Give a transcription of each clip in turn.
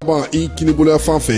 Bɔn i kinibolo fan fɛ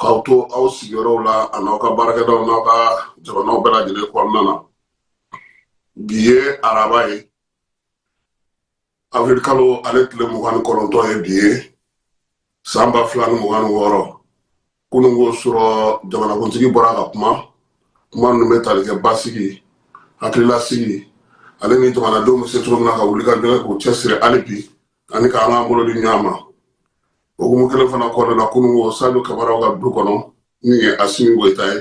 k'aw to aw sigiyɔrɔw la a n'aw ka baarakɛdaw n'aw ka jamanaw bɛɛ lajɛlen kɔnɔna na bi ye araba ye avril kalo ale tile mugan ni kɔnɔntɔn ye bi ye san ba fila ni mugan ni wɔɔrɔ kunungo surɔ jamanakuntigi bɔra ka kuma kuma ninnu bɛ tali kɛ basigi hakililasigi ale ni jamanadenw bɛ se cogo min na ka wuli ka jɔ k'u cɛsiri hali bi ani k'an k'an bolo di ɲɔgɔn ma o hukumu kelen fana kɔnɔna na kunungo sadio kamaraw ka du kɔnɔ min ye asimi goyita ye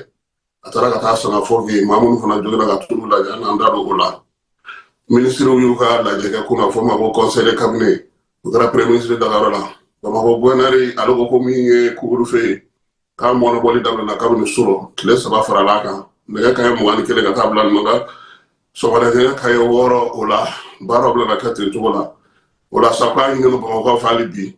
a taara ka taa sanga fo bi maa minnu fana jogina ka t'olu lajɛ an n'an da don o la minisiriw y'u ka lajɛ kɛ kun na fɔ ma ko conseil de cabinet o kɛra premier ministre dagayɔrɔ la bamakɔ gouverneur ale ko ko min ye couvre-feu ye k'a mɔnɔbɔli daminɛna kabini surɔ tile saba farala a kan nɛgɛ kaɲɛ mugan ni kelen ka taa bila nɔ la sɔgɔmada nɛgɛ kaɲɛ wɔɔrɔ o la baaraw bɛna kɛ ten cogo la o la sa k'a ɲinini bamakɔkaw fɛ hali bi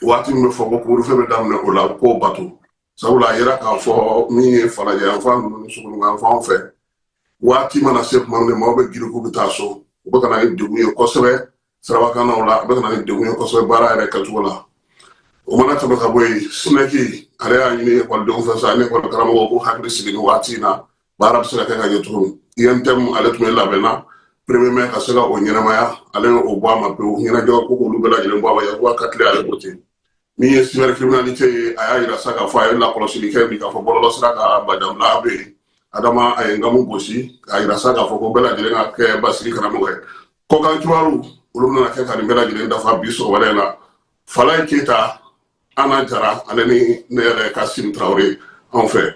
waati min bɛ fɔ ko couvre-feu bɛ daminɛ o la k'o bato sabula a yera k'a fɔ min ye falajɛ yanfan ninnu ni sogoninko fanw fɛ waati mana se tuma min maaw bɛ girin k'u bɛ taa so u bɛ ka na ni degun ye kosɛbɛ sirabakannaw la a bɛ ka na ni degun ye kosɛbɛ baara yɛrɛ kɛcogo la o mana tɛmɛ ka bɔ yen SNEC ale y'a ɲini ekɔlidenw fɛ sa ani ekɔli karamɔgɔw k'u hakili sigi nin waati in na baara bɛ se ka kɛ ka ɲɛ cogo min UNTM ale tun bɛ labɛn na premier mai ka se ka o ɲɛnamaya ale y'o bɔ a ma pewu ɲɛnajɛko k'olu bɛɛ lajɛlen bɔ a ma yakuba katile ale ko ten min ye cybercriminalité ye a y'a yira sa k'a fɔ a ye lakɔlɔsili kɛ bi k'a fɔ bɔlɔlɔsira kan badabila bɛ yen adama a ye nkamu gosi k'a yira sa k'a fɔ ko bɛɛ lajɛlen ka kɛ basigi karamɔgɔ ye kɔkan kibaru olu bɛna kɛ ka nin bɛɛ lajɛlen dafa bi sɔgɔmada la falaye keyita ana jara ale ni ne yɛrɛ kasim traoré anw fɛ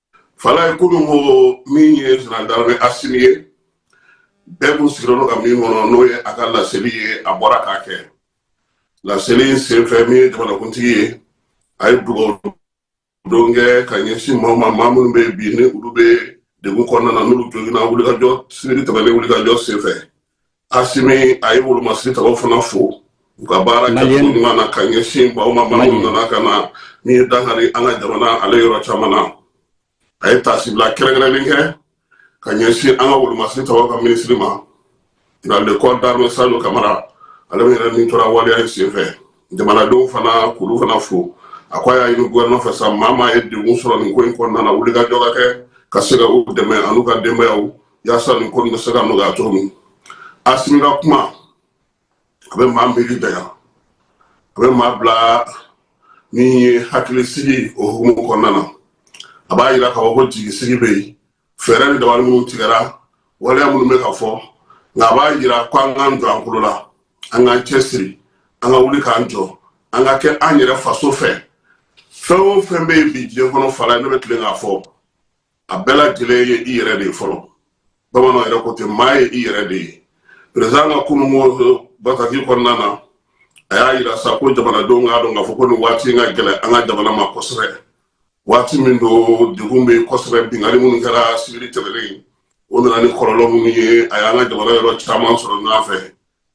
falaye kunungo min ye général d'armée asimi ye bɛɛ kun sigilen don ka min kɔnɔ n'o ye a ka laseli ye a bɔra k'a kɛ laseli in senfɛ min ye jamanakuntigi ye a ye dugawudon kɛ ka ɲɛsin maaw ma maa minnu bɛ bi ni olu bɛ degun kɔnɔna na n'olu jogina wulikajɔ sibiri tɛmɛnen wulikajɔ senfɛ Asimi a ye wolomasiri tabaw fana fo u ka baara ɲuman na ka ɲɛsin maaw ma maa minnu nana ka na min ye dankari an ka jamana ale yɔrɔ caman na a ye tasibila kɛrɛnkɛrɛnlen kɛ ka ɲɛsin an ka wolomasiri tabaw ka minisiri ma le corps d'armée Sadio Kamara ale min yɛrɛ nin tora waleya in senfɛ jamanadenw fana k'olu fana fo a ko a y'a ɲini gofɛrɛnaman fɛ sa maa maa ye degun sɔrɔ nin ko in kɔnɔna na wulikajɔ ka kɛ ka se ka u dɛmɛ an'u ka denbayaw yaasa nin ko nin bɛ se ka nɔgɔya cogo min asimi ka kuma a bɛ maa miiri janya a bɛ maa bila min ye hakilisigi o hukumu kɔnɔna na a b'a yira k'a fɔ ko jigisigi bɛ yen fɛɛrɛ ni dabali minnu tigɛra waleya minnu bɛ ka fɔ nka a b'a yira ko an k'an jɔ an kolo la an k'an cɛsiri an ka wuli k'an jɔ an ka kɛ an yɛrɛ faso fɛ fɛn o fɛn bɛ yen bi diɲɛ kɔnɔ fala ne bɛ tilen k'a fɔ a bɛɛ lajɛlen ye i yɛrɛ de ye fɔlɔ bamananw yɛrɛ ko ten maa ye i yɛrɛ de ye perezan ka kunungo bataki kɔnɔna na a y'a yira sa ko jamanadenw k'a dɔn k'a fɔ ko nin waati in ka gɛlɛn an ka jamana ma kosɛbɛ waati min don degun bɛ kosɛbɛ binkanni minnu kɛra sibiri tɛmɛnen o nana ni kɔlɔlɔ minnu ye a y'an ka jamana yɔrɔ caman sɔrɔ ɲɔgɔn fɛ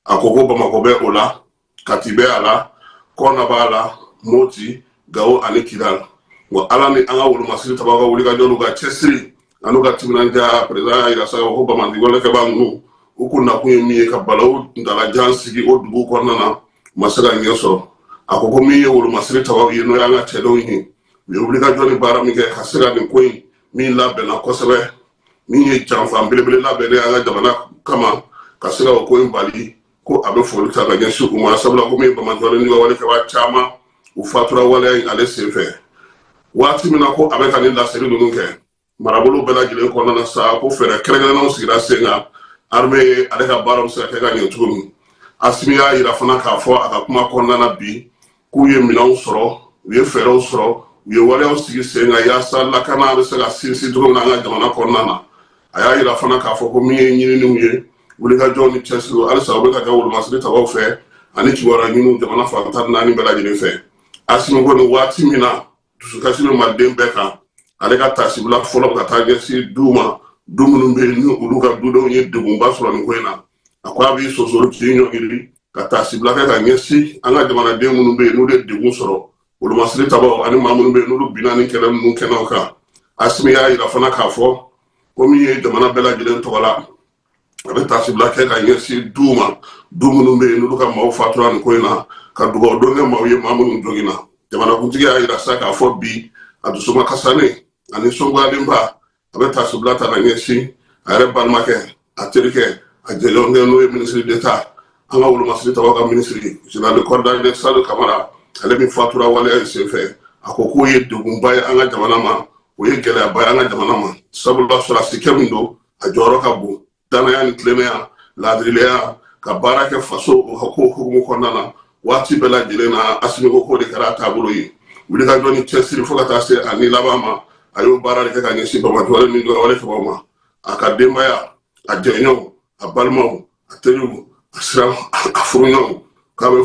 a ko ko bamakɔ bɛ o la kati bɛ a la kɔna b'a la moti gawo ani kidal wa ala ni an ka wolomasiri tabaw ka wulikajɔ n'u ka cɛsiri an'u ka timinandiya perezan y'a yira sa ko banbaanci walekɛba ninnu u kun nakun ye min ye ka balawu kuntaalajan sigi o dugu kɔnɔna na u ma se ka ɲɛ sɔrɔ a ko ko min ye wolomasiri tabaw ye n'o y'an ka cɛdenw ye u ye wulikajɔ ni baara min kɛ ka se ka nin ko in min labɛnna kosɛbɛ min ye janfa belebele labɛnnen an ka jamana kama ka se ka o ko in bali ko a bɛ foli ta ka ɲɛsin u ma sabula ko min ye bamatɔlen ni walekɛba caman u fatura waleya in ale sen fɛ waati min na ko a bɛ ka nin laseli ninnu kɛ marabolo bɛɛ lajɛlen kɔnɔna na sa ko fɛɛrɛ kɛrɛnkɛrɛnnenw sigira sen kan arme ye ale ka baaraw bɛ se ka kɛ ka ɲɛ cogo min asimi y'a yira fana k'a fɔ a ka kuma kɔnɔna na bi k'u ye minɛnw sɔrɔ u ye fɛɛrɛw sɔrɔ u ye waleyaw sigi sen kan yaasa lakana bɛ se ka sinsin cogo min na an ka jamana kɔnɔna na a y'a yira fana k'a fɔ ko min ye ɲininiw ye wulikajɔw ni cɛsiriw halisa u bɛ ka kɛ wolomasiri tabaw fɛ ani kibaruya ɲiniw jamana fan tan ni naani bɛɛ lajɛlen fɛ asimi ko nin waati min na dusukasi bɛ maliden bɛɛ kan ale ka tasibila fɔlɔ ka taa ɲɛsin du ma du minnu bɛ ni olu ka dudenw ye degunba sɔrɔ nin ko in na a ko a b'i sonsoro k'i ɲɔngiri ka tasibila kɛ ka ɲɛsin an ka jamanaden minnu bɛ yen n'olu ye degun sɔrɔ wolomasiri tabaw ani maa minnu bɛ yen n'olu binna nin kɛlɛ ninnu kɛnɛw kan asimi y'a yira fana k'a fɔ ko min ye jamana bɛɛ lajɛlen tɔgɔ la a bɛ tasibila kɛ ka ɲɛsin du ma du minnu bɛ yen n'olu ka maaw fatura nin ko in na ka dugawu don kɛ maaw ye maa minnu joginna jamanakuntigi y'a yira sa k'a fɔ bi a dusu makasilen a nisɔngoyalenba a bɛ tasibila ta ka ɲɛsin a yɛrɛ balimakɛ a terikɛ a jɛɲɔgɔnkɛ n'o ye minisiri d'Etat an ka wolomasiri tabaw ka minisiri jenerali de corps d'armée sajo kamara ale min fatura waleya in senfɛ a ko k'o ye degunba ye an ka jamana ma o ye gɛlɛyaba ye an ka jamana ma sabula sɔrɔdasikɛ min don a jɔyɔrɔ ka bon danaya ni tilennenya laadirileya ka baara kɛ faso ko hukumu kɔnɔna na waati bɛɛ lajɛlen na asimi ko k'o de kɛra a taabolo ye wulikajɔ ni cɛsiri fo ka taa se a ni laban ma a y'o baara de kɛ ka ɲɛsin bamakɔjɔlen min dɔrɔn wale sababu ma a ka denbaya a jɛɲɔgɔnw a balimaw a teriw a sera a furuɲɔgɔnw k'a bɛ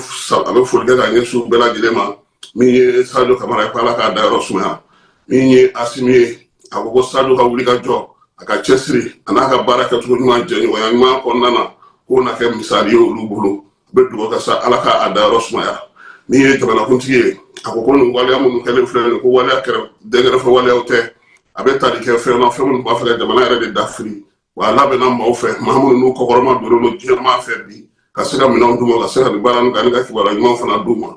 a bɛ foli kɛ ka ɲɛsin u bɛɛ lajɛlen ma min ye sajo kamara ye ko ala k'a dayɔrɔ sumaya min ye asimi ye a ko ko sajo ka wulikajɔ a ka cɛsiri a n'a ka baara kɛcogo ɲuman jɛɲɔgɔnya ɲuman kɔnɔna na k'o na kɛ misali ye olu bolo a bɛ dugawu kɛ sa ala k'a dayɔrɔ sumaya min ye jamanakuntigi ye a ko ko nin waleya minnu kɛlen filɛ nin ko waleya kɛrɛ dɛnkɛrɛfɛ waleyaw tɛ a bɛ tali kɛ fɛn na fɛn minnu b'a fɛ ka jamana yɛrɛ de dafiri wa a labɛnna maaw fɛ maa minnu n'u kɔkɔrɔmadonnen don diɲɛmaa fɛ bi ka se ka minɛnw d'u ma ka se ka nin baara nin kɛ ani ka kibaruya ɲuman fana d'u ma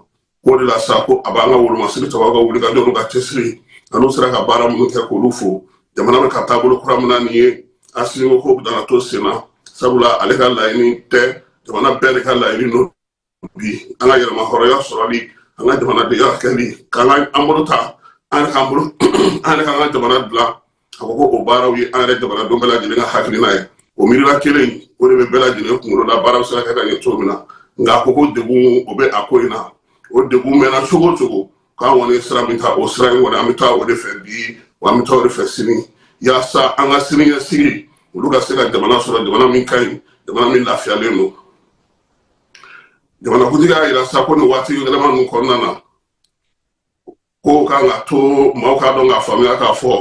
k'o de la sa ko a b'an ka wolomasiri tabaw ka wulikajɔ n'u ka cɛsiri an'u sera ka baara minnu kɛ k'olu fo jamana bɛ ka taabolo kura min na nin ye asimi ko k'o de na to sen na sabula ale ka laɲini tɛ jamana bɛɛ de ka laɲini don bi an ka yɛrɛmahɔrɔnya sɔrɔli an ka jamanadenya kɛli k'an ka an bolo ta an yɛrɛ k'an bolo an yɛrɛ k'an ka jamana dilan a ko ko o baaraw ye an yɛrɛ jamanadenw bɛɛ lajɛlen ka hakilina ye o miirila kelen o de bɛ bɛɛ lajɛlen kunkolo la baara bɛ se ka kɛ ka ɲɛ cogo min na nka a ko ko degun o bɛ a ko in na o degun mɛnna cogo o cogo k'an kɔni sira min ta o sira in kɔni an bɛ taa o de fɛ bi wa an bɛ taa o de fɛ sini yaasa an ka siniɲɛsigi olu ka se ka jamana sɔrɔ jamana min ka ɲi jamana min lafiyalen don jamanakuntigi y'a yira sa ko nin waati gɛlɛnman ninnu kɔnɔna na ko k'an k'a to maaw k'a dɔn k'a faamuya k'a fɔ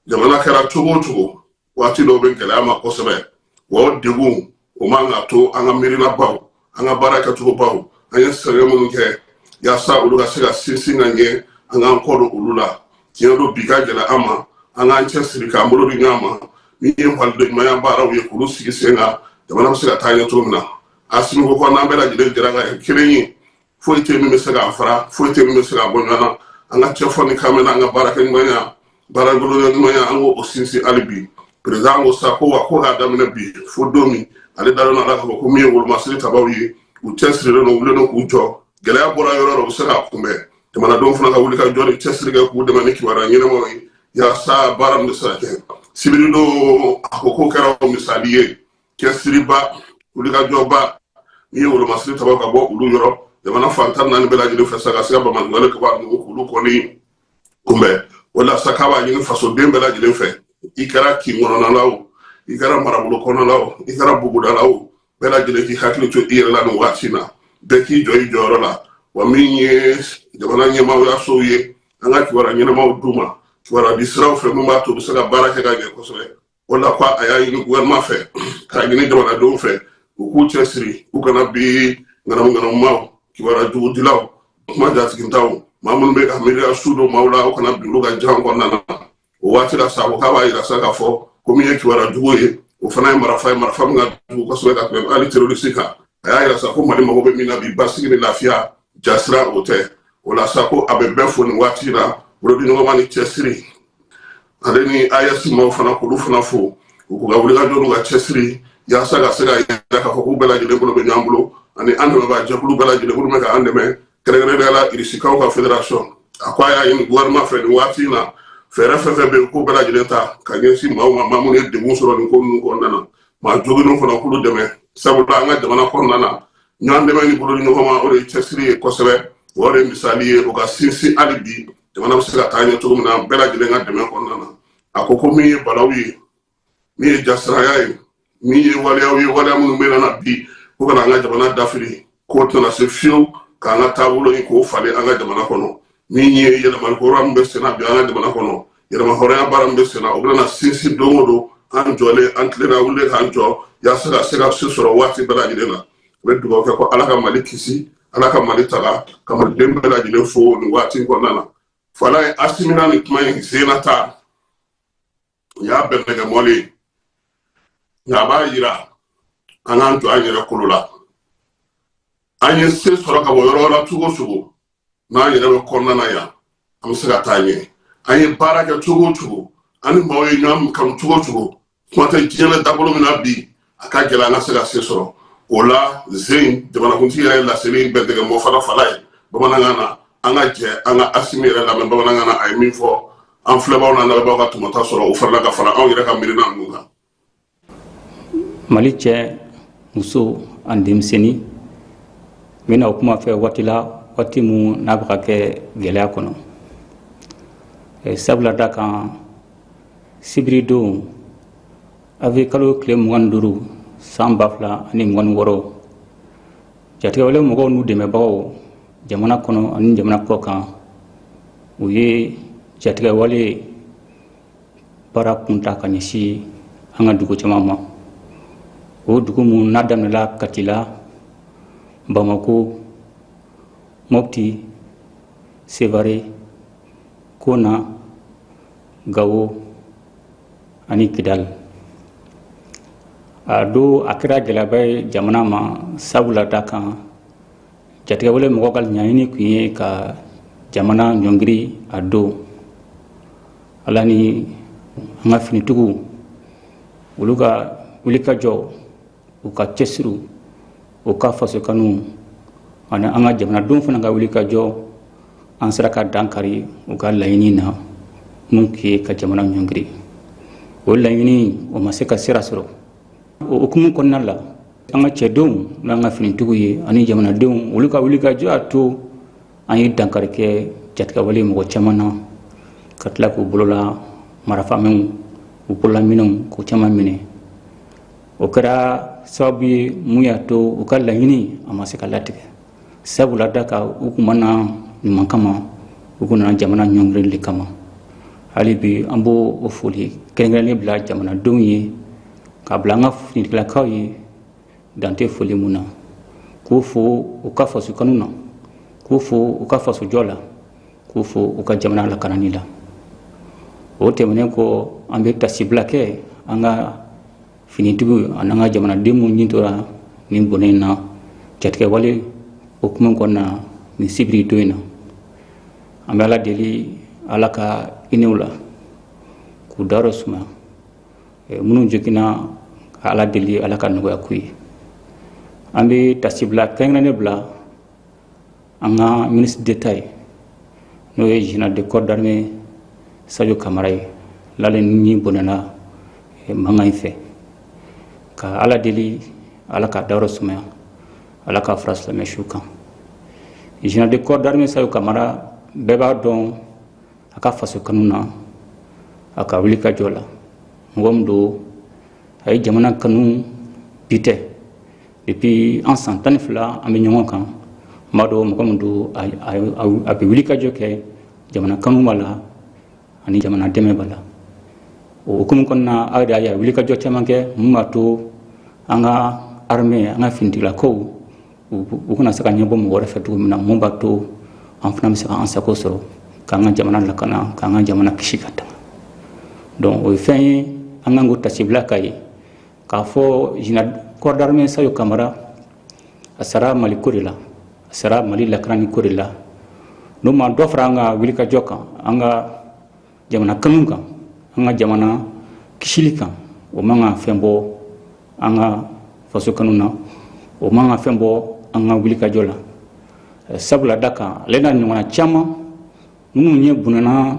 jamana kɛra cogo o cogo waati dɔw bɛ gɛlɛya a ma kosɛbɛ wa o degun o man ka to an ka miirinabaw an ka baara kɛcogobaw an ye sɛgɛn minnu kɛ yaasa olu ka se ka sinsin ka ɲɛ an k'an kɔ don olu la tiɲɛ don bi ka gɛlɛn an ma an k'an cɛ siri k'an bolo di ɲɔgɔn ma min ye malidenɲumanya baaraw ye k'olu sigi sen kan jamana bɛ se ka taa ɲɛ cogo min na asimi ko ko n'an bɛɛ lajɛlen jɛra ka kɛ kelen ye foyi tɛ min bɛ se k'an fara foyi tɛ min bɛ se k'an bɔ ɲɔgɔn na an ka cɛ fɔ ni kan mɛn an ka baarakɛ ɲumanya baarabolo ɲumanya an k'o sinsin hali bi perezidan ko sa ko wa ko k'a daminɛ bi fo don min ale dalen don a la k'a fɔ ko min ye wolomasiri tabaw ye u cɛsirilen don u wulilen don k'u jɔ gɛlɛya bɔra yɔrɔ o yɔrɔ u bɛ se k'a kunbɛn jamanadenw fana ka wulikajɔ ni cɛsiri kɛ k'u dɛmɛ ni kibaruya ɲɛnamaw ye yaasa baara min bɛ se ka kɛ sibiri don a ko k'o kɛra misali ye cɛsiriba wulikajɔba min ye wolomasiri taba ka bɔ olu yɔrɔ jamana fan tan ni naani bɛɛ lajɛlen fɛ sa ka se ka banbaanciwale kɛbaa ninnu k'olu kɔni kunbɛn o la sa k'a b'a ɲini fasoden bɛɛ lajɛlen fɛ i kɛra kin kɔnɔna la o i kɛra marabolo kɔnɔna la o i kɛra buguda la o bɛɛ lajɛlen k'i hakili to i yɛrɛ la nin waati na bɛɛ k'i jɔ i jɔyɔrɔ la wa min ye jamana ɲɛmaayasow ye an ka kibaruya ɲɛnamaw d'u ma kibaruya di siraw fɛ min b'a to u bɛ se ka baara kɛ ka ɲɛ kosɛbɛ o la ko a y'a ɲini gouvernement fɛ k'a ɲini jamanadenw fɛ u k'u cɛsiri u kana bin ŋanamuŋanamumaw kibaruya jugudilaw kuma jatigintanw maa minnu bɛ ka miiriya su don maaw la u kana bin olu ka jan kɔnɔna na o waati la sa ko k'a b'a yira sa k'a fɔ ko min ye kibaruya jugu ye o fana ye marafa ye marafa min ka jugu kosɛbɛ ka tɛmɛ hali terroriste kan a y'a yira sa ko mali mago bɛ min na bi basigi ni lafiya jasiran o tɛ o la sa ko a bɛ bɛɛ fo nin waati la bolodiɲɔgɔnma ni cɛsiri ale ni AES maaw fana k'olu fana fo u k'u ka wulikajɔ n'u ka cɛsiri yaasa ka se k'a yira k'a fɔ k'u bɛɛ lajɛlen bolo bɛ ɲɔgɔn bolo ani an dɛmɛbaa jɛkulu bɛɛ lajɛlen minnu bɛ ka an dɛmɛ kɛrɛnkɛrɛnnenya la irisikaw ka fédération a ko a y'a ɲini gouvernement fɛ nin waati in na fɛɛrɛ fɛn fɛn bɛ yen k'o bɛɛ lajɛlen ta ka ɲɛsin maaw ma maa minnu ye degun sɔrɔ nin ko ninnu kɔnɔna na maa joginnenw fana k'olu dɛmɛ sabula an ka jamana kɔnɔna na ɲɔgɔn dɛmɛ ni bolodiɲɔgɔnma o de ye cɛsiri ye kosɛbɛ o de ye misali ye o ka sinsin hali bi jamana bɛ se ka taa ɲɛ cogo min na bɛɛ lajɛlen ka dɛmɛ kɔnɔna na a ko ko min ye balawu ye min ye jasiranya ye min ye waleyaw ye waleya minnu bɛ na bi ko ka na an ka jamana dafiri k'o tɛna se fiyewu k'an ka taabolo in k'o falen an ka jamana kɔnɔ min ye yɛlɛmali kura min bɛ senna bi an ka jamana kɔnɔ yɛlɛma hɔrɔnya baara min bɛ senna o bɛna sinsin don o don an jɔlen an tilenna wuli k'an jɔ yaasa ka se ka se sɔrɔ waati bɛɛ lajɛlen na n bɛ dugawu kɛ ko ala ka mali kisi ala ka mali tanga ka maliden bɛɛ lajɛlen fo nin waati kɔnɔna na falaye asimina ni kuma in senna ta u y'a bɛɛ bɛɛ kɛ mɔlen ye nka a b'a yira an k'an to an yɛrɛ kolo la an ye se sɔrɔ ka bɔ yɔrɔ la cogo cogo n'an yɛrɛ bɛ kɔnɔna na yan an bɛ se ka taa ɲɛ an ye baara kɛ cogo cogo an ni maaw ye ɲɔgɔn kanu cogo cogo kuma tɛ diɲɛ bɛ dabolo min na bi a ka gɛlɛn an ka se ka se sɔrɔ o la zen jamanakuntigi yɛrɛ laseli in bɛntigɛ mɔ fara falaye bamanankan na an ka jɛ an ka asimi yɛrɛ lamɛn bamanankan na a ye min fɔ an filɛbaaw n'an lamɛnbaaw ka tɔmɔta sɔrɔ o farila ka fara anw yɛrɛ ka miirina ninnu kan mali cɛ muso ani denmisɛnnin n bɛna o kuma fɛ waati la waati min n'a bɛ ka kɛ gɛlɛya kɔnɔ sabula da kan sibiridon Awirili kalo tile mugan ni duuru san ba fila ani mugan ni wɔɔrɔ jatigɛwale mɔgɔw n'u dɛmɛbagaw jamana kɔnɔ ani jamana kɔ kan u ye jatigɛwale baara kun ta ka ɲɛsin an ka dugu caman ma o dugu minnu n'a daminɛla kati la bamakɔ mɔti sevare kɔna gawo ani kidali a don a kɛra gɛlɛyaba ye jamana ma sabula da kan jatigɛwale mɔgɔw ka laɲini kun ye ka jamana ɲɔngiri a don ala ni an ka finitigiw olu ka wulikajɔ u ka cɛsiriw u ka fasokanuw ani an ka jamanadenw fana ka wulikajɔ an sera ka dankari u ka laɲini na mun ye ka jamana ɲɔngiri o laɲini o ma se ka sira sɔrɔ o hukumu kɔnɔna la an ka cɛdenw n'an ka finitigiw ye ani jamanadenw olu ka wulikajɔ a to an ye dankari kɛ jatigɛwale mɔgɔ caman na ka tila k'u bolola marafamɛnw u bolola minɛnw k'u caman minɛ o kɛra sababu ye mun y'a to u ka laɲini a ma se ka latigɛ sabula da kan u kun ma na ɲuman kama u kun nana jamana ɲɔngirili de kama hali bi an b'o o foli kɛrɛnkɛrɛnnen bila jamanadenw ye k'a bila an ka finitigilakaw ye dan tɛ foli mun na k'u fo u ka faso kanu na k'u fo u ka fasojɔ la k'u fo u ka jamana lakanani la o tɛmɛnen kɔ an bɛ tasibila kɛ an ka finitigiw ani an ka jamanaden minnu ni tora nin bɔnɛ in na jatigɛwale hukumu kɔnɔna nin sibiri don in na an bɛ ala deli ala ka hinɛ u la k'u dayɔrɔ suma minnu joginna ka ala deli ala ka nɔgɔya k'u ye an bɛ tasibila kɛrɛnkɛrɛnnen bila an ka ministre d'État ye n'o ye général de corps d'armée sajo kamara ye n'ale ni bɔnɛna eh, mankan in fɛ ka ala deli ala k'a dayɔrɔ sumaya ala k'a fara silamɛ su kan général de corps d'armée sajo kamara bɛɛ b'a dɔn a ka faso kanu na a ka wulikajɔ la mɔgɔ min don a ye jamana kanu bi tɛ depuis an san tan ni fila an bɛ ɲɔgɔn kan n b'a dɔn mɔgɔ min don a bɛ wulikajɔ kɛ jamana kanu b'a la ani jamana dɛmɛ b'a la o hukumu kɔnɔna aw de y'a ye a wulikajɔ caman kɛ mun b'a to an ka armée an ka finitigilakaw u kana se ka ɲɛbɔ mɔgɔ wɛrɛ fɛ cogo min na mun b'a to an fana bɛ se k'an sago sɔrɔ k'an ka jamana lakana k'an ka jamana kisi ka tanga donc o ye fɛn ye an kan k'o tasibila ka ye k'a fɔ général corps d'armée sadio kamara a sara mali ko de la a sara mali lakanani ko de la n'o ma dɔ fara an ka wulikajɔ kan an ka jamana kanu kan an ka jamana kisili kan o man ka fɛn bɔ an ka faso kanu na o man ka fɛn bɔ an ka wulikajɔ la sabula d'a kan ale n'a ɲɔgɔnna caman minnu ye bunana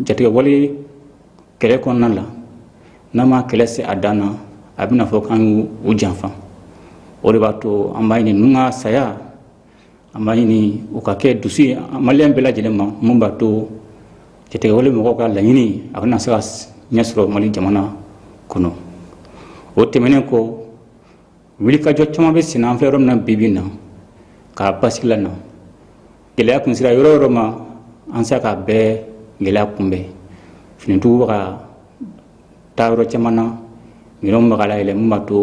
jatigɛwale kɛlɛ kɔnɔna la n'an ma kɛlɛ se a dan na a bɛna fɔ k'an y'u janfa o de b'a to an b'a ɲini ninnu ka saya an b'a ɲini u ka kɛ dusu ye maliyɛn bɛɛ lajɛlen ma mun b'a to jatigɛwale mɔgɔw ka laɲini a kana se ka ɲɛ sɔrɔ mali jamana kɔnɔ o tɛmɛnen kɔ wulikajɔ caman bɛ senna an fɛ yɔrɔ min na bi bi in na ka basigi lana gɛlɛya kun sera yɔrɔ yɔrɔ ma an sera k'a bɛɛ gɛlɛya kunbɛn finitigiw bɛ ka taa yɔrɔ caman na minɛnw bɛ ka layɛlɛ mun b'a to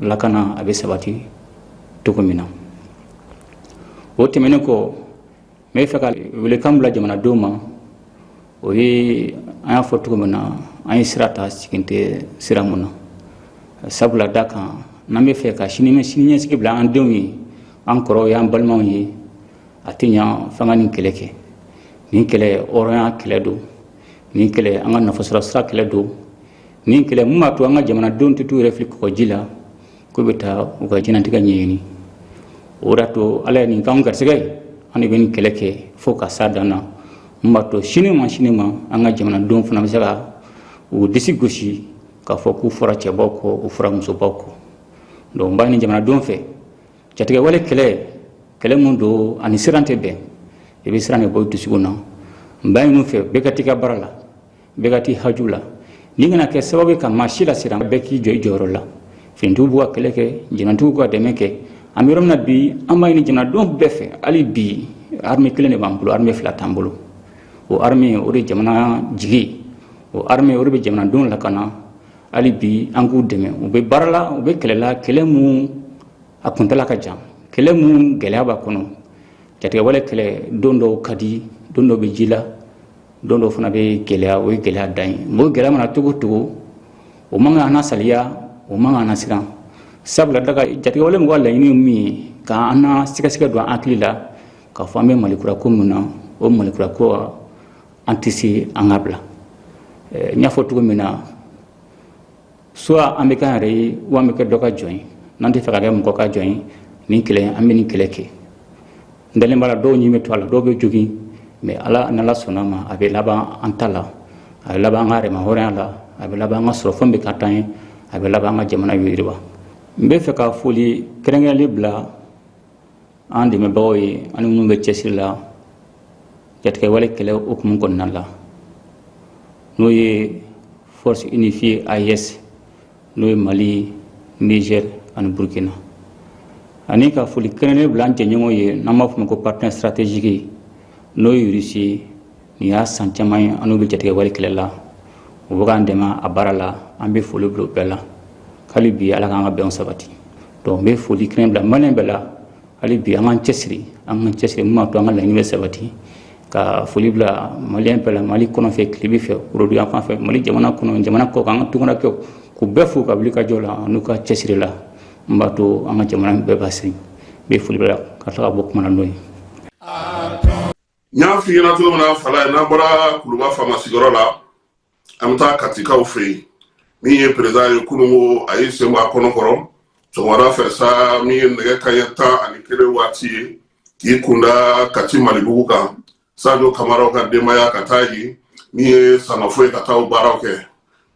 lakana a bɛ sabati cogo min na o tɛmɛnen kɔ n bɛ fɛ ka welekan bila jamanadenw ma o ye an y'a fɔ cogo min na an ye sira ta segin tɛ sira mun na sabula d'a kan n'an bɛ fɛ ka sini sini ɲɛsigi bila an denw ye an kɔrɔw y'an balimaw ye a tɛ ɲa f'an ka nin kɛlɛ kɛ nin kɛlɛ hɔrɔnya kɛlɛ don nin kɛlɛ an ka nafasɔrɔ sira kɛlɛ don nin kɛlɛ mun b'a to an ka jamanadenw tɛ t'u yɛrɛ fili kɔgɔji la k'u bɛ taa u ka diɲɛnatigɛ ɲɛɲini o de y'a to ala ye nin k'anw garisɛgɛ ye an de bɛ nin kɛlɛ kɛ fo ka s'a dan na mun b'a to sini ma sini ma an ka jamanadenw fana bɛ se ka u disi gosi k'a fɔ k'u fɔra cɛbaw kɔ u fɔra musobaw kɔ donc n b'a ɲini jamanadenw fɛ jatigɛwale kɛlɛ kɛlɛ min don a ni siran tɛ bɛn i bɛ siran de bɔ dusukun na n b'a ɲini u fɛ bɛɛ ka t'i ka baara la bɛɛ ka t'i haju la nin kana kɛ sababu ye ka maa si lasiran bɛɛ k'i jɔ i jɔyɔrɔ la finitigiw b'u ka kɛlɛ kɛ jamanatigiw ka dɛmɛ kɛ an bɛ yɔrɔ min na bi an b'a ɲini jamanadenw bɛɛ fɛ hali bi armée kelen de b'an bolo armée fila t'an bolo o armée o de jamana jigi o armée o de bɛ jamanadenw lakana hali bi an k'u dɛmɛ u bɛ baara la u bɛ kɛlɛ la kɛlɛ mun a kuntala ka jan kɛlɛ mun gɛlɛya b'a kɔnɔ jatigɛwale kɛlɛ don dɔw ka di don dɔw bɛ ji la don dɔ fana bɛ gɛlɛya o ye gɛlɛya dan ye o gɛlɛya mana cogo cogo o man kan an nasaliya o man kan an nasiran sabula daga jatigɛwale mɔgɔw laɲini ye min ye k'an na sigasiga don an hakili la k'a fɔ an bɛ malikura ko min na o malikura ko an tɛ se an k'a bila n y'a fɔ cogo min na soit an bɛ kɛ an yɛrɛ ye ou an bɛ kɛ dɔ ka jɔn ye n'an tɛ fɛ ka kɛ mɔgɔ ka jɔn ye nin kɛlɛ an bɛ nin kɛlɛ kɛ n dalen b'a la dɔw ni bɛ to a la dɔw bɛ jogin mais ala n'ala sɔnna a ma a bɛ laban an ta la a bɛ laban an ka yɛrɛmahɔrɔnya la a bɛ laban an ka sɔrɔfɛn bɛ k'an ta ye a bɛ laban an ka jamana yiriwa n bɛ fɛ ka foli kɛrɛnkɛrɛnlen bila an dɛmɛbagaw ye ani minnu bɛ cɛsiri la jatigɛ wale kɛlɛ hukumu kɔnɔna la n'o ye force unifiée AES n'o ye Mali Niger ani Burkina ani ka foli kɛrɛnnen bila an jɛɲɔgɔn ye n'an b'a fɔ o ma ko partenaire stratégique n'o ye Russie ye nin y'a san caman ye an n'u bɛ jatigɛ wale kɛlɛ la u bɛ k'an dɛmɛ a baara la an bɛ foli bila bɛɛ la hali bi ala k'an ka bɛn sabati donc n bɛ foli kɛrɛnnen bila malien bɛɛ la hali bi an k'an cɛsiri an ka cɛsiri min b'a to an ka laɲini bɛ sabati ka foli bila malien bɛɛ la mali kɔrɔn fɛ tilebin fɛ worodu yanfan fɛ mali jamana kɔnɔ jamana kɔkan an ka tungarankɛw k'u bɛɛ fo u ka wulikajɔ la n'u ka cɛsiri la min b'a to an ka jamana bɛ basigi n bɛ foli bila ka tila ka bɔ kuma na n'o ye n y'a f'i ɲɛna cogo min na fala ye n'an bɔra kuluba faama sigiyɔrɔ la an bɛ taa katikaw fɛ yen min ye perezidan ye kunun ko a y'i sen bɔ a kɔnɔ kɔrɔ sɔgɔmada fɛ sa min ye nɛgɛ kanɲɛ tan ani kelen waati ye k'i kunda kati malibugu kan sajo kamaraw ka denbaya ka taa yen min ye sangafo ye ka taa o baaraw kɛ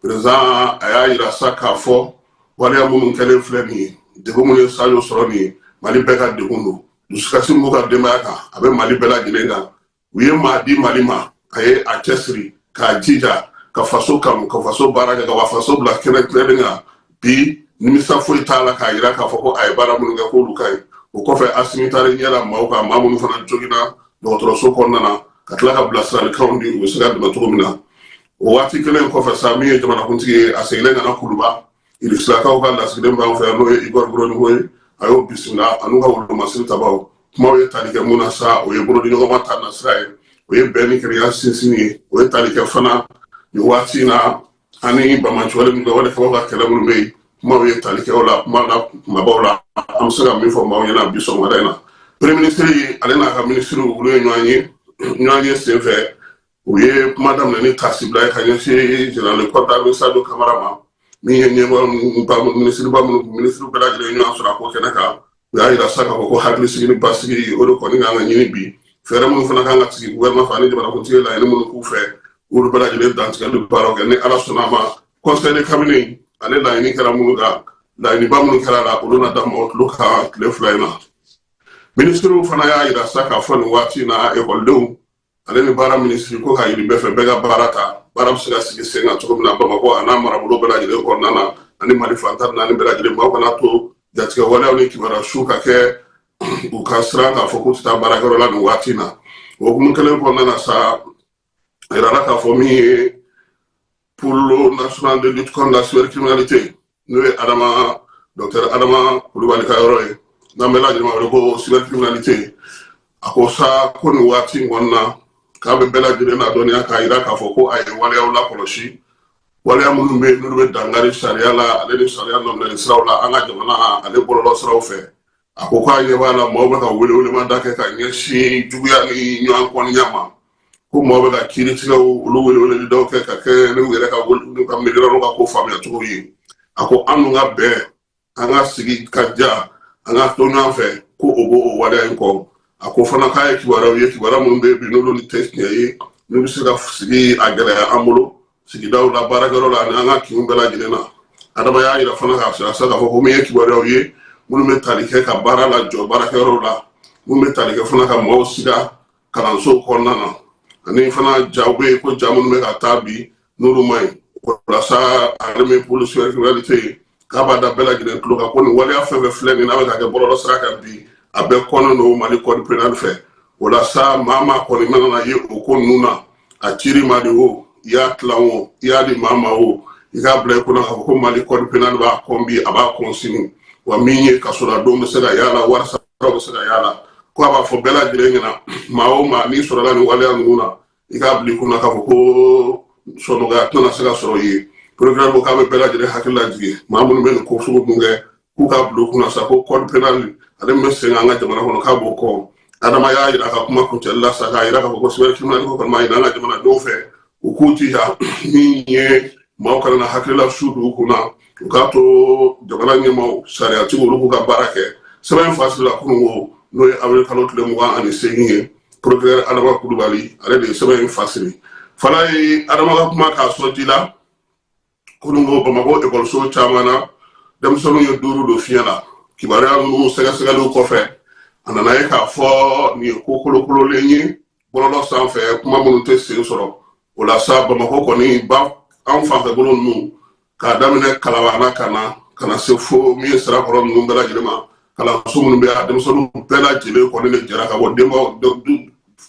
perezidan a y'a yira sa k'a fɔ waleya minnu kɛlen filɛ nin ye degun minnu ye sajo sɔrɔ nin ye mali bɛɛ ka degun don dusukasi min b'u ka denbaya kan a bɛ mali bɛɛ lajɛlen kan u ye maa di mali ma a ye a cɛsiri k'a jija ka faso kanu ka faso baara kɛ ka wa faso bila kɛnɛ tilennen kan bi nimisa foyi t'a la k'a yira k'a fɔ ko a ye baara minnu kɛ k'olu ka ɲi o kɔfɛ asimi taara ɲɛ la maaw kan maa minnu fana joginna dɔgɔtɔrɔso kɔnɔna na ka tila ka bilasiralikanw di u bɛ se ka dɛmɛ cogo min na o waati kelen kɔfɛ sa min ye jamanakuntigi ye a seginnen ka na kuluba Irisilakaw ka lasigiden b'an fɛ yan n'o ye Igor Gromyko ye a y'o bisimila a n'u ka wolomasiri tabaw kumaw ye tali kɛ mun na sa o ye bolodiɲɔgɔnma ta nasira ye o ye bɛn ni kelenya sinsin ye o ye tali kɛ fana nin waati in na ani banbaanciwale min kɛ wale kɛbaw ka kɛlɛ minnu bɛ yen kumaw ye tali kɛ o la kuma na kumabaw la an bɛ se ka min fɔ maaw ɲɛna bi sɔgɔmada in na premier ministre ale n'a ka ministre olu ye ɲɔgɔn ye ɲɔgɔn ye senfɛ u ye kuma daminɛ ni tasibila ye ka ɲɛsin général de corps d'armée sadio kamara ma min ye ɲɛmɔgɔ minisiriba minnu minisiri bɛɛ lajɛlen ɲɔgɔn sɔrɔ a ko kɛnɛ kan u y'a yira sa k'a fɔ ko hakili sigi ni basigi o de kɔni kan ka ɲini bi fɛɛrɛ minnu fana kan ka sigi gouvernement fɛ ani jamanakuntigi laɲini minnu k'u fɛ olu bɛɛ lajɛlen dantigɛli baaraw kɛ ni ala sɔnna a ma conseil de cabinet ale laɲini kɛra minnu kan laɲiniba minnu kɛra a la olu na da mɔgɔ tulo kan tile fila in na minisiriw fana y'a yira sa k'a fɔ nin waati in na ekɔlidenw ale ni baara minisiri ko k'a ɲini bɛɛ fɛ bɛɛ ka baara ta baara bɛ se ka sigi sen kan cogo min na bamakɔ a n'a marabolo bɛɛ lajɛlen kɔnɔna na ani mali fan tan naani bɛɛ lajɛlen maaw kana to jatigɛwaleyaw ni kibaruya su ka kɛ u ka siran k'a fɔ k'u tɛ taa baarakɛyɔrɔ la nin waati na o hukumu kelen kɔnɔna na sa a yirala k'a fɔ min ye pôle national de lutte contre la cybercriminalité n'o ye adama dɔktɛr adama kulubali ka yɔrɔ ye n'an bɛɛ lajɛlen b'a wele ko cybercriminalité a ko sa ko nin waati in kɔnɔna k'a bɛ bɛɛ lajɛlen ladɔnniya k'a yira k'a fɔ ko a ye waleyaw lakɔlɔsi waleya minnu bɛ yen n'olu bɛ dankari sariya la ale ni sariya nɔminɛli siraw la an ka jamana ale bɔlɔlɔ siraw fɛ a ko k'a ɲɛ b'a la maaw bɛ ka welewelemada kɛ ka ɲɛsin juguya ni ɲɔgɔn kɔniya ma ko maaw bɛ ka kiiritigɛw olu weleweleli dɔw kɛ ka kɛ n'u yɛrɛ ka miiriyɔrɔ n'u ka ko faamuya cogo ye a ko an dun ka bɛn an ka sigi ka diya an ka to ɲɔgɔn fɛ ko o b'o o waleya in kɔ a ko fana k'a ye kibaruyaw ye kibaruya minnu bɛ yen bi n'olu ni tɛ tiɲɛ ye n'u bɛ se ka sigi a gɛlɛya an bolo sigidaw la baarakɛyɔrɔ la ani an ka kinw bɛɛ lajɛlen na adama y'a yira fana k'a yira sa k'a fɔ ko min ye kibaruyaw ye minnu bɛ tali kɛ ka baara lajɔ baarakɛyɔrɔw la minnu bɛ tali kɛ fana ka maaw siga kalansow kɔnɔna na ani fana jaw bɛ yen ko ja minnu bɛ ka taa bi n'olu ma ɲi walasa ale pôle cybercriminalité k'a b'a da bɛɛ lajɛlen tulo kan ko nin waleya fɛn o fɛn filɛ nin n'a bɛ ka kɛ bɔlɔlɔ sira kan bi a bɛɛ kɔnnen don mali code pénal fɛ o la sa maa o maa kɔni mana na ye o ko ninnu na a cira i ma de o i y'a tilan o i y'a di maa ma o i k'a bila i kunna k'a fɔ ko mali code pénal b'a kɔn bi a b'a kɔn sini wa min ye kasoladon bɛ se ka y'a la wari sara bɛ se ka y'a la ko a b'a fɔ bɛɛ lajɛlen ɲɛna maa o maa n'i sɔrɔla nin waleya ninnu na i k'a bila i kunna k'a fɔ ko sɔnɔgɔya tɛna se ka sɔrɔ i ye procureur ko k'a bɛ bɛɛ lajɛlen hakili lajigin maa minnu bɛ nin ko sugu ninnu kɛ k'u k'a bila u kunna sa ko code pénal ale min bɛ sen an ka jamana kɔnɔ k'a b'o kɔn adama y'a yira ka kuma kuncɛli la sa k'a yira k'a fɔ ko cybercriminalité ko kɔni b'a ɲini an ka jamanadenw fɛ u k'u jija min ye maaw kana na hakilila su don u kun na u k'a to jamana ɲɛmaaw sariyatigi olu k'u ka baara kɛ sɛbɛn fasirila kunun ko n'o ye awiri kalo tile mugan ani seegin ye procureur adama kulubali ale de ye sɛbɛn in fasiri fana ye adama ka kuma k'a sɔn ji la kununko bamakɔ ekɔliso caman na denmisɛnninw ye duuru don fiɲɛ na kibaruya minnu sɛgɛsɛgɛliw kɔfɛ a nana ye k'a fɔ nin ye ko kolokololen ye bɔlɔlɔ sanfɛ kuma minnu tɛ sen sɔrɔ o la sa bamakɔ kɔni ba an fanfɛ bolo ninnu k'a daminɛ kalabana ka na ka na se fo min ye sirakɔrɔ ninnu bɛɛ lajɛlen ma kalanso minnu bɛ a denmisɛnninw bɛɛ lajɛlen kɔni de jɛra ka bɔ denbaw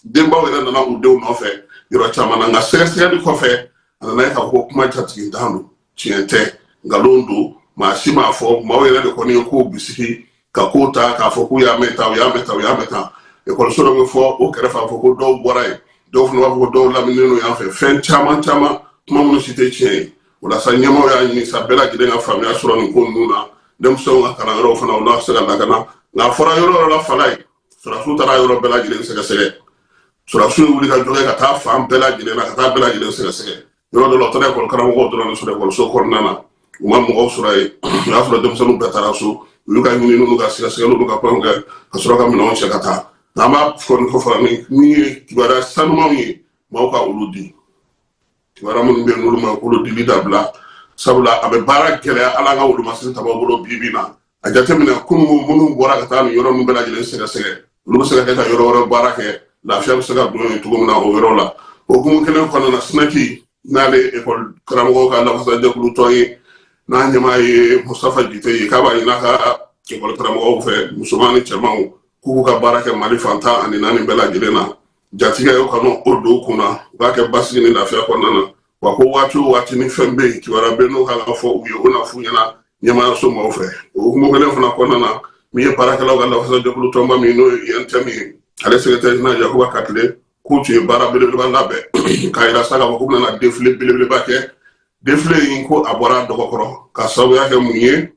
denbaw yɛrɛ nana u denw nɔfɛ yɔrɔ caman na nka sɛgɛsɛgɛli kɔfɛ a nana ye k'a fɔ kuma jatigitan don tiɲɛ tɛ nkalon don maa si m'a fɔ maaw yɛrɛ de kɔni ye k'o bisigi ka k'o ta k'a fɔ k'u y'a mɛn tan u y'a mɛn tan u y'a mɛn tan ekɔliso dɔ bɛ fɔ o kɛrɛfɛ a fɔ ko dɔw bɔra yen dɔw fana b'a fɔ ko dɔw laminilen don yan fɛ fɛn caman caman kuma minnu si tɛ tiɲɛ ye o la sa ɲɛmaaw y'a ɲini sa bɛɛ lajɛlen ka faamuya sɔrɔ nin ko ninnu na denmisɛnw ka kalanyɔrɔw fana olu ka se ka lakana nka a fɔra yɔrɔ yɔrɔ la fala ye sɔrɔdasiw taara yɔrɔ bɛɛ lajɛlen sɛgɛsɛgɛ sɔrɔdasiw ye wuli ka jɔ kɛ ka taa fan bɛɛ lajɛlen na ka taa bɛɛ lajɛlen sɛgɛsɛgɛ yɔrɔ dɔ la u taara ekɔli karamɔgɔw dɔrɔn de sɔrɔ ekɔliso kɔnɔna na u ma mɔgɔw sɔrɔ yen o y'a sɔrɔ denmisɛnninw bɛɛ taara so u y'u ka ɲininiw n'u ka sɛgɛsɛgɛliw n'u ka fɛnw kɛ ka sɔrɔ ka minɛnw cɛ ka taa nka an b'a fɔ nin kɔfɛ ni min ye kibaruya sanumanw ye maaw ka olu di kibaruya minnu bɛ yen n'olu ma k'olu dili dabila sabula a bɛ baara gɛlɛya an ka wolomasiri tabaaw bolo bi bi na a jateminɛ kununko minnu bɔra ka taa nin yɔrɔ ninnu bɛɛ lajɛlen sɛgɛsɛgɛ olu bɛ se ka kɛ ka yɔrɔ wɛrɛ baara kɛ lafiya bɛ se ka don yen cogo min na o yɔrɔ la o hukumu kelen kɔnɔna na SNEC n'ale ekɔli karamɔgɔw ka lafasajɛkulu tɔn ye n'a ɲɛmaa ye mustafa jite ye k'a b'a ɲini a ka ekɔli karamɔgɔw fɛ musoman ni cɛmanw k'u ka baara kɛ mali fan tan ani naani bɛɛ lajɛlen na jatigɛ o kana don u kun na u k'a kɛ basigi ni lafiya kɔnɔna na wa ko waati o waati ni fɛn bɛ yen kibaruya bɛ n'o kan ka fɔ u ye o na f'u ɲɛna ɲɛmaayaso maaw fɛ o hukumu kelen fana kɔnɔna na min ye baarakɛlaw ka lafasajɛkulu tɔnba min n'o ye UNTM ye ale secrétaire général yakuba katile k'u tun ye baara belebeleba labɛn k'a yira sa k'a fɔ k'u bɛna defile belebeleba kɛ defile in ko a bɔra dɔgɔ kɔrɔ ka sababuya kɛ mun ye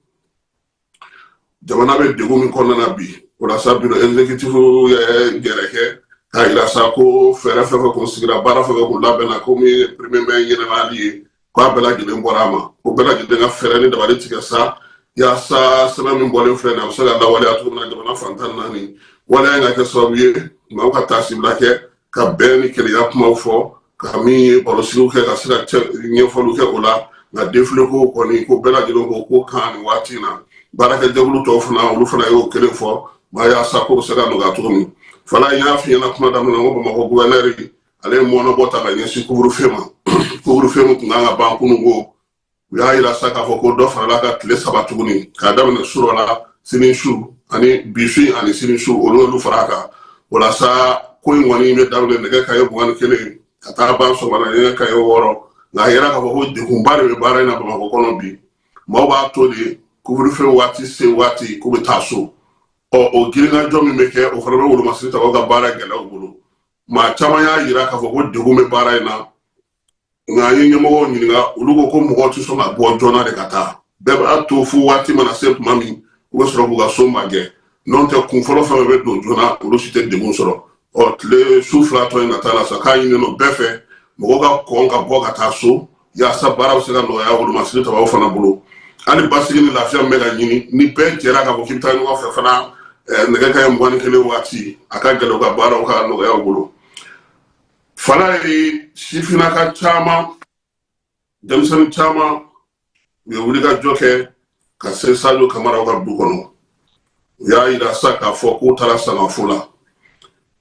jamana bɛ degun min kɔnɔna na bi o la sa biro exécutif ye gɛrɛ kɛ k'a yira sa ko fɛɛrɛ fɛn fɛn kun sigira baara fɛn fɛn kun labɛnna komi premier mai ɲɛnamayali ye k'a bɛɛ lajɛlen bɔra a ma ko bɛɛ lajɛlen ka fɛɛrɛ ni dabali tigɛ sa yaasa sɛbɛn min bɔlen filɛ nin a bɛ se ka lawaleya cogo min na jamana fan tan ni naani waleya in ka kɛ sababu ye maaw ka taasibila kɛ ka bɛn ni kelenya kuma fɔ ka min ye barosigiw kɛ ka sira ɲɛfɔliw kɛ o la nka defileko kɔni ko bɛɛ lajɛlen ko ko kan nin waati na baarakɛjɛkulu tɔw fana olu fana y'o kelen fɔ maa yaasa ko se ka nɔgɔya cogo min fana n y'a f'i ɲɛna kuma daminɛ ko bamakɔ guvɛnɛri ale ye mɔɔnɔbɔ ta ka ɲɛsin kuburufe ma kuburufe min tun kan ka ban kununko u y'a yira sa k'a fɔ ko dɔ farala a kan tile saba tuguni k'a daminɛ surɔ la sini su ani bi su ani sini su olu y'olu fara a kan o la sa ko in kɔni bɛ daminɛ nɛgɛ kanɲɛ mugan ni kelen ka taa ban sɔgɔmada nɛgɛ kanɲɛ wɔɔrɔ nka a yera k'a fɔ ko degunba de bɛ baara in na bamakɔ kɔnɔ bi maaw b'a to de kuburufɛ waati se waati k'u bɛ taa so o girinkajɔ min bɛ kɛ o fana bɛ wolomasiri tabaw ka baara gɛlɛya u bolo maa caman y'a yira k'a fɔ ko degun bɛ baara in na nka an ye ɲɛmɔgɔw ɲininka olu ko ko mɔgɔ tɛ sɔn ka bɔ joona de ka taa bɛɛ b'a to fo waati mana se tuma min u bɛ sɔrɔ k'u ka so magɛn n'o tɛ kun fɔlɔ fɛn bɛ don joona olu si tɛ degun sɔrɔ ɔ tile su fila tɔ in ka taa la sa k'a ɲininen don bɛɛ fɛ mɔgɔ ka kɔn ka bɔ ka taa so yaasa baara bɛ se ka nɔgɔya wolomasiri tabaw fana bolo ani basigi ni lafiya min bɛ ka ɲini ni bɛɛ jɛra k'a fɔ k'i bɛ taa ɲɔgɔn fɛ fana nɛgɛ kanɲɛ mugan ni kelen waati a ka gɛlɛn u ka baaraw ka nɔgɔya u bolo fala ye sifinnaka caman denmisɛnnin caman u ye wulikajɔ kɛ ka se sajo kamaraw ka du kɔnɔ u y'a yira sa k'a fɔ k'u taara sangafo la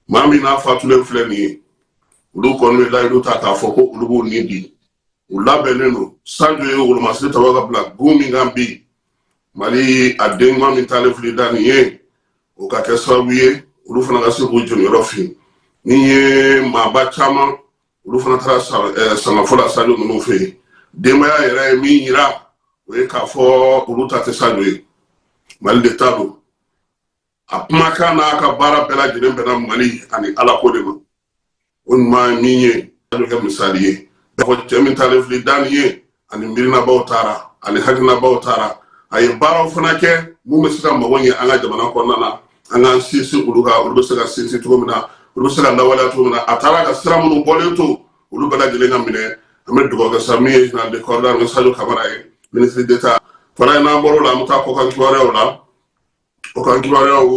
maa min n'a fatulen filɛ nin ye olu kɔni bɛ layidu ta k'a fɔ ko olu b'u ni di u labɛnnen don sajo ye wolomasiri tabaw ka bila gun min kan bi mali a den ɲuman min taalen filɛ i da nin ye o ka kɛ sababu ye olu fana ka se k'u jeniyɔrɔ fin ni ye maaba caman olu fana taara sangafo la sajo ninnu fɛ yen denbaya yɛrɛ ye min yira o ye k'a fɔ olu ta tɛ sajo ye mali de ta don a kumakan n'a ka baara bɛɛ lajɛlen bɛnna mali ani ala ko de ma o ɲuman ye min ye sajo ka kɛ misali ye n'a fɔ cɛ min taalen filɛ i da nin ye ani miirinabaw taara ani hakilinabaw taara a ye baaraw fana kɛ minnu bɛ se ka mago ɲɛ an ka jamana kɔnɔna na an k'an sinsin olu kan olu bɛ se ka sinsin cogo min na olu bɛ se ka lawaleya cogo min na a taara ka sira minnu bɔlen to olu bɛɛ lajɛlen ka minɛ an bɛ dugawu kɛ sa min ye zenerali de kɔri darime sajo kamara ye minisiri deta fana ye n'an bɔr'o la an bɛ taa kɔkan kibaruyaw la kɔkan kibaruyaw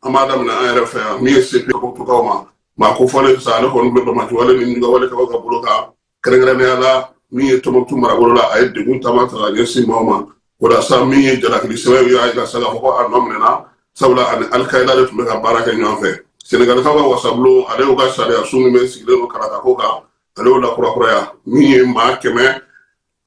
an b'a daminɛ an yɛrɛ fɛ yan min ye sepeyi ko tukaw ma maa kofɔlen sisan ale kɔni bɛ banbaganci wale ni binkanni wale kɛbaw ka bolo kan kɛrɛnkɛrɛnnenya la min ye tumutu marabolo la a ye degun caman ta ka ɲɛsin maaw ma o la sa min ye jalakili sɛbɛn y'a jira sa k'a fɔ ko a nɔminɛna sabula a ni alikayida de tun bɛ ka baara kɛ ɲɔgɔn fɛ senegalikaw ka wasabulon ale y'u ka sariya sun min bɛ sigilen don kalatako kan ale y'o lakurakuraya min ye maa kɛmɛ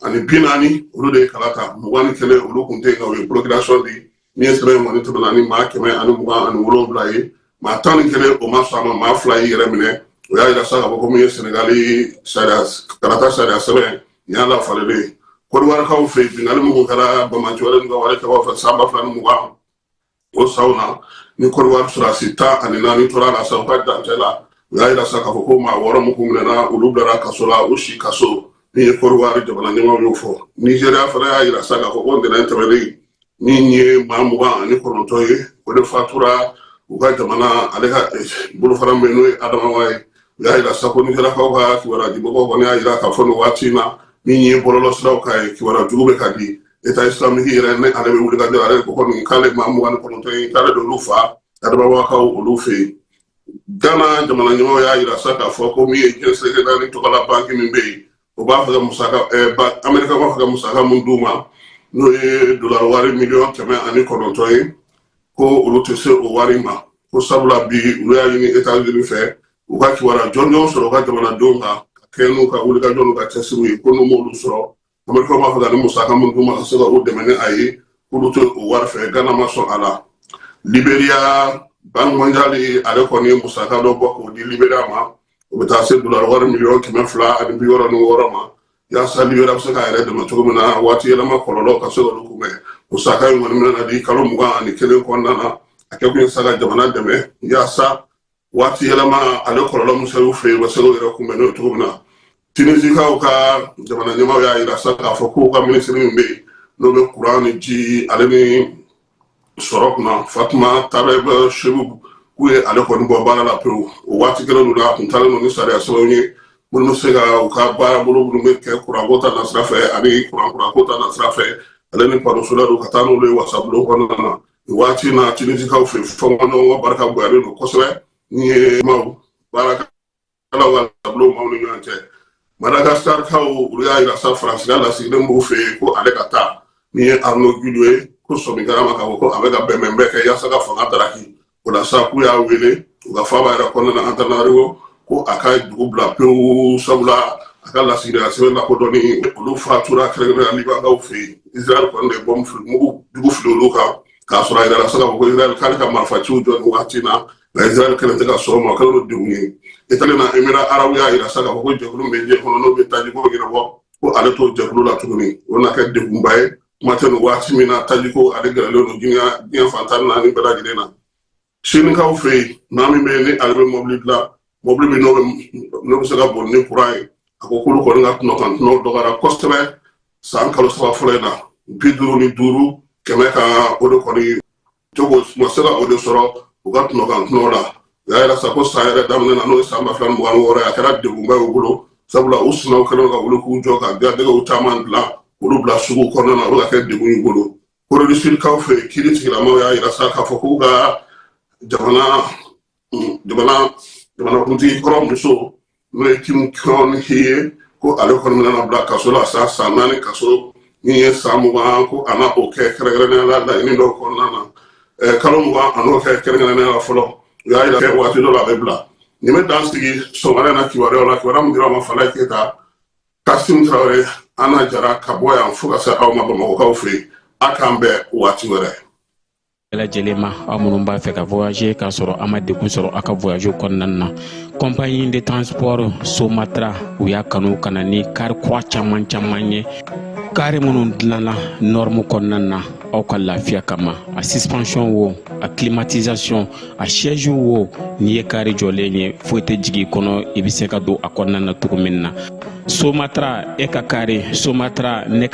ani bi naani olu de ye kala ta mugan ni kelen olu kun tɛ yen nka u ye porokirasɔn di min ye sɛbɛn kɔni tɛmɛna ni maa kɛmɛ ani mugan ani wolonwula ye maa tan ni kelen o ma sɔn a ma maa fila y'i yɛrɛ minɛ o y'a yira sa k'a fɔ ko min ye sɛnɛgali sariya kalata sariya sɛbɛn nin y'a lafalennen ye kɔdiwarikaw fɛ yen binkanni minnu kɛra banbaganci wale ni binkanni wale kɛbaw fɛ san ba fila ni mugan o saw na ni kɔdiwari sɔrɔdasi tan ani naani tora a la sa u ka dancɛ la u y'a yira sa k'a fɔ ko maa wɔɔrɔ minnu kun minɛna olu bilara kaso la u si kaso min ye kɔdiwari jamana ɲɛmaw y'o fɔ nizeriya fana y'a yira sa k'a fɔ ko ntɛnɛn tɛmɛnen min ye maa mugan ani kɔnɔntɔn ye o de fatura u ka jamana ale ka bolofara min n'o ye adamawa ye u y'a yira sa ko nizeriyakaw ka kibaruya dimɔgɔw kɔni y'a yira k'a fɔ nin waati in na min ye bɔlɔlɔsiraw kan ye kibaruya jugu bɛ ka di eta islamiki yɛrɛ ne ale bɛ wuli ka jɔ ale ko kɔni k'ale maa mugan ni kɔnɔntɔn ye k'ale d'olu fa adamawakaw olu fɛ yen gana jamana ɲɛmɔgɔ y'a yira sa k'a fɔ ko min ye diɲɛ seleke naani tɔgɔla banki min bɛ yen o b'a fɛ ka musaka ɛɛ ba amerika b'a fɛ ka musaka min d'u ma n'o ye dolari wari miliyɔn kɛmɛ ani kɔnɔntɔn ye ko olu tɛ se o wari ma ko sabula bi olu y'a ɲini etazini fɛ u ka kibaruya jɔnjɔn sɔrɔ u ka jamanadenw kan ka kɛɲɛ n'u ka wulikajɔ n'u ka cɛsiriw ye ko n'u m'olu sɔrɔ amerika b'a fɛ ka musaka min d'u ma ka se ka o dɛmɛ ni a ye k'olu tɛ o wari fɛ gana ma sɔn a la liberiya banki mɔnjali ale kɔni ye musaka dɔ bɔ k'o di liberiya ma o bɛ taa se dolari wari miliyɔn kɛmɛ fila ani bi wɔɔrɔ ni wɔɔrɔ ma yaasa liberiya bɛ se k'a yɛrɛ dɛmɛ cogo min na waati yɛlɛma kɔlɔlɔ ka se k'olu kunbɛn musaka in kɔni bɛna di kalo mugan ani kelen kɔnɔna na a kɛ kun ye sa ka jamana dɛmɛ yaasa waati yɛlɛma ale kɔlɔlɔ min sera u fɛ yen u ka se k'u yɛrɛ kunbɛn n'o cogo min na tinisikaw ka jamana ɲɛmaw y'a yira sa k'a fɔ k'u ka minisiri min bɛ yen n'o bɛ kuran ni ji ale ni sɔrɔ kunna fatuma tabɛti sibu k'u ye ale kɔni bɔ baara la pewu o waati kelen in na a tun taalen don ni sariya sɛbɛnw ye minnu bɛ se ka u ka baarabolo minnu bɛ kɛ kuranko ta nasira fɛ ani kurankurako ta nasira fɛ ale ni panosolɛri don ka taa n'olu ye wasabulon kɔnɔna na waati na tinisikaw fɛ fɔɲɔgɔnkɔ barika bonyalen don kosɛbɛ min ye maaw baarakɛlaw ka taabolo maaw ni ɲɔgɔn cɛ madagaskarikaw olu y'a yira sa faransi ka lasigiden b'u fɛ yen ko ale ka taa min ye arno giluwa ye ko sɔmi kɛra a ma k'a fɔ ko a bɛ ka bɛnbɛn bɛɛ kɛ yaasa ka fanga daraki o la sa k'u y'a wele u ka faaba yɛrɛ kɔnɔna na antanariwo ko a ka dugu bila pewu sabula a ka lasigidenya sɛbɛn lakodɔnni olu fatura kɛrɛnkɛrɛnnenya libankaw fɛ yen israel kɔni de bɔmu fili mugu jugu fili olu kan k'a sɔrɔ a yirala sa k'a fɔ ko israel k'ale ka marifaciw jɔ nin wagati na nka israel kɛlen tɛ ka sɔn o ma o kɛlen don degun ye itali na emira arabu y'a yira sa k'a fɔ ko jɛkulu min bɛ diɲɛ kɔnɔ n'o bɛ tajiko ɲɛnabɔ ko ale t'o jɛkulu la tuguni o na kɛ degunba ye kuma tɛ nin waati min na tajiko ale gɛrɛlen don diɲɛ diɲɛ fan tan ni naani bɛɛ lajɛlen na Sinikaw fɛ yen maa min bɛ yen ni ale bɛ mɔbili dilan mɔbili min n'o bɛ se ka boli ni kuran ye a ko k'olu kɔni ka tɔnɔ kan tɔnɔ dɔgɔyara kosɛbɛ san kalo saba fɔlɔ in na bi duuru ni duuru kɛmɛ kan o de kɔni cogo ma se ka o de sɔrɔ u ka tɔnɔ kan tɔnɔ la o y'a yira sa ko san yɛrɛ daminɛ na n'o ye san ba fila mugan wɔɔrɔ ye a kɛra degunba y'u bolo sabula u sinaw kɛlen ka wuli k'u jɔ k'a ladegew caman dilan olu bila sugu kɔnɔna na olu ka kɛ degun y'u bolo corée du sud kaw fɛ kiri tigilamaw y'a yira sa k'a fɔ k'u ka jamana jamana jamanakuntigi kɔrɔ muso n'o ye kim keon hee ko ale kɔni bɛna bila kaso la sa san naani kaso min ye san mugan ko a na o kɛ kɛrɛnkɛrɛnnenya la laɲini dɔw kɔnɔna na kalo mugan a n'o kɛ kɛrɛnkɛrɛnnenya la fɔlɔ u y'a yira waati dɔ la a bɛ bila nin bɛ dan sigi sɔgɔmada na kibaruyaw la kibaruya min dira ma falaye keyita kasim tarawele ana jara ka bɔ yan fo ka se aw ma bamakɔkaw fɛ yen a k'an bɛn waati wɛrɛ bɛɛ lajɛlen ma aw minnu b'a fɛ ka voyager k'a sɔrɔ a ma degun sɔrɔ a ka voyage kɔnɔna na compagnie de transport somatra u y'a kanu ka na ni kari kura caman caman ye kari minnu dilanna norme kɔnɔna na aw ka lafiya kama a suspension wo a climatisation a siège wo n'i ye kari jɔlen ye foyi tɛ jigin kɔnɔ i bɛ se ka don a kɔnɔna na cogo min na somatara e ka kari somatara ne ka